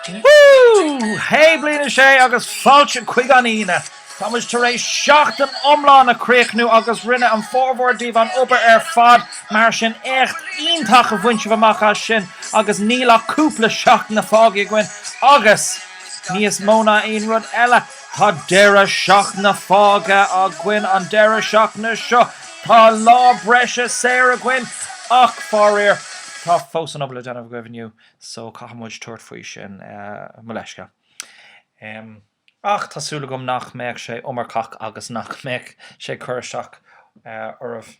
Woo! Hé Bliain a 6 agus fáilte chuig an Aoine! Tá muid tar éis seachtain iomlán a chríochnú agus rinne an formhór díbh an obair ar fad mar sin éacht iontach a bhain sibh amach as sin agus níl ach cúpla seachtaine fágtha againn agus níos mó ná aon rud eile Tá deireadh seachtaine fágtha againn an deireadh seachtaine seo. Tá lá breise saor againn ach, faraor, tá fós an obair le déanamh agaibh inniu so caithfidh muid tabhairt faoi sin. Mo leithscéal. Ach tá súil agam nach mbeadh sé iomarcach agus nach mbeadh sé ag cur isteach oraibh.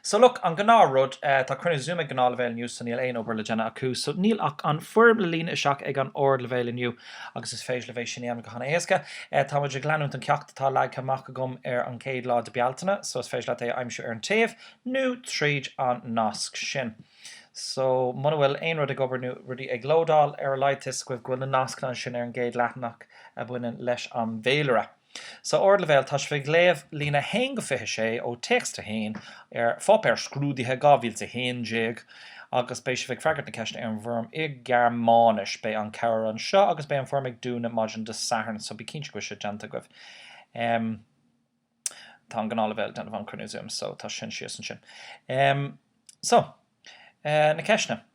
So look, an gnáth rud, tá cruinniú Zoom ag gnáthleibhéal inniu so níl aon obair le déanamh acu so níl ach an foirm le líonadh isteach ag an ardleibhéal inniu agus is féidir libh é sin a dhéanamh go han-éasca. Tá muid ag leanúint an ceacht atá leagtha amach agam ar an gcéad lá de Bealtaine so is féidir leat é a aimsiú ar an taobh nó tríd an nasc sin. So muna bhfuil aon rud ag obair nó rudaí ag lódáil, ar a laghad tá 'fhios agaibh go bhfuil na nascanna ansin ar an gcéad leathanach a bhaineann leis an bhféilire. So Ardleibhéal, tá sibh ag léamh líne 1-26 ó Text 1 ar pháipéar scrúdaithe 2011 agus beidh sibh ag freagairt na ceisteanna ar an bhfoirm i Gearmáinis. Beidh an cabhair anseo agus beidh an foirm ag dúnadh maidin Dé Sathairn so bí cinnte go bhfuil sé déanta agaibh. Tá an gnáthleibhéal déanamh an cruinniú Zoom so tá sin síos ansin. So, na ceisteanna.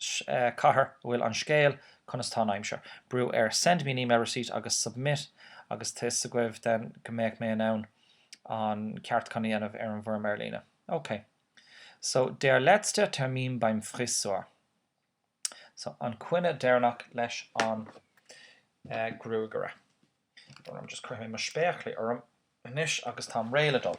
cathair a bhfuil an scéal Conas tá an aimsir? brú ar Send me an email receipt agus Submit agus tá 'fhios agaibh then go mbeadh mé in ann an ceartúchán a dhéanamh ar an bhfoirm ar líne. Ok. So Der letzte Termin beim Frisör So an coinne deireanach leis an gruagaire. Just cuirfidh mé mo spéaclaí orm anois agus táim réidh le dul.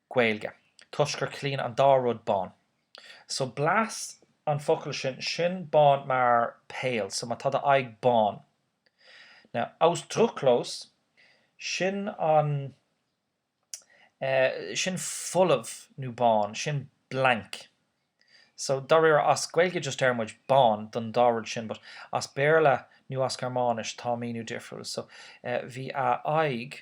Gaeilge, toisc gur ciallaíonn an dá rud bán. So blass an focal sin, sin bán mar pale, so má tá do aghaidh bán. Now, ausdruckslos, sin an eh, sin folamh nó bán, sin blank. So dáiríre, as Gaeilge just deir muid bán don dá rud sin but as Béarla nó as Gearmáinis tá míniú difriúil. So eh, bhí a aghaidh.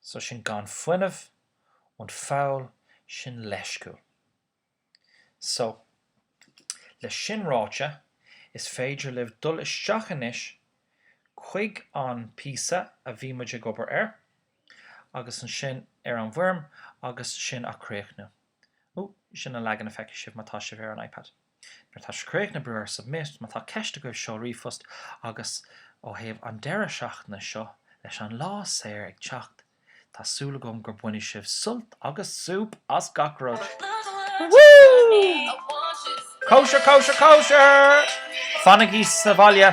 So sin gan fuinneamh, und faul sin leisciúil. So, leis sin ráite, is féidir libh dul isteach anois chuig an píosa a bhí muid ag obair air, agus ansin ar an bhfoirm, agus sin á críochnú. Ooh, sin an leagan a feicfidh sibh má tá sibh ar an iPad. Nuair atá sé críochnaith, brúigh Submit má tá ceist agaibh Seol ríomhphost agus ó thaobh an deireadh seachtaine seo, leis an lá saor ag teacht, tá súil agam gur bainfidh sibh sult agus súp as gach rud! Woo! Cóisir, cóisir, cóisir! Fanaigí sa bhaile!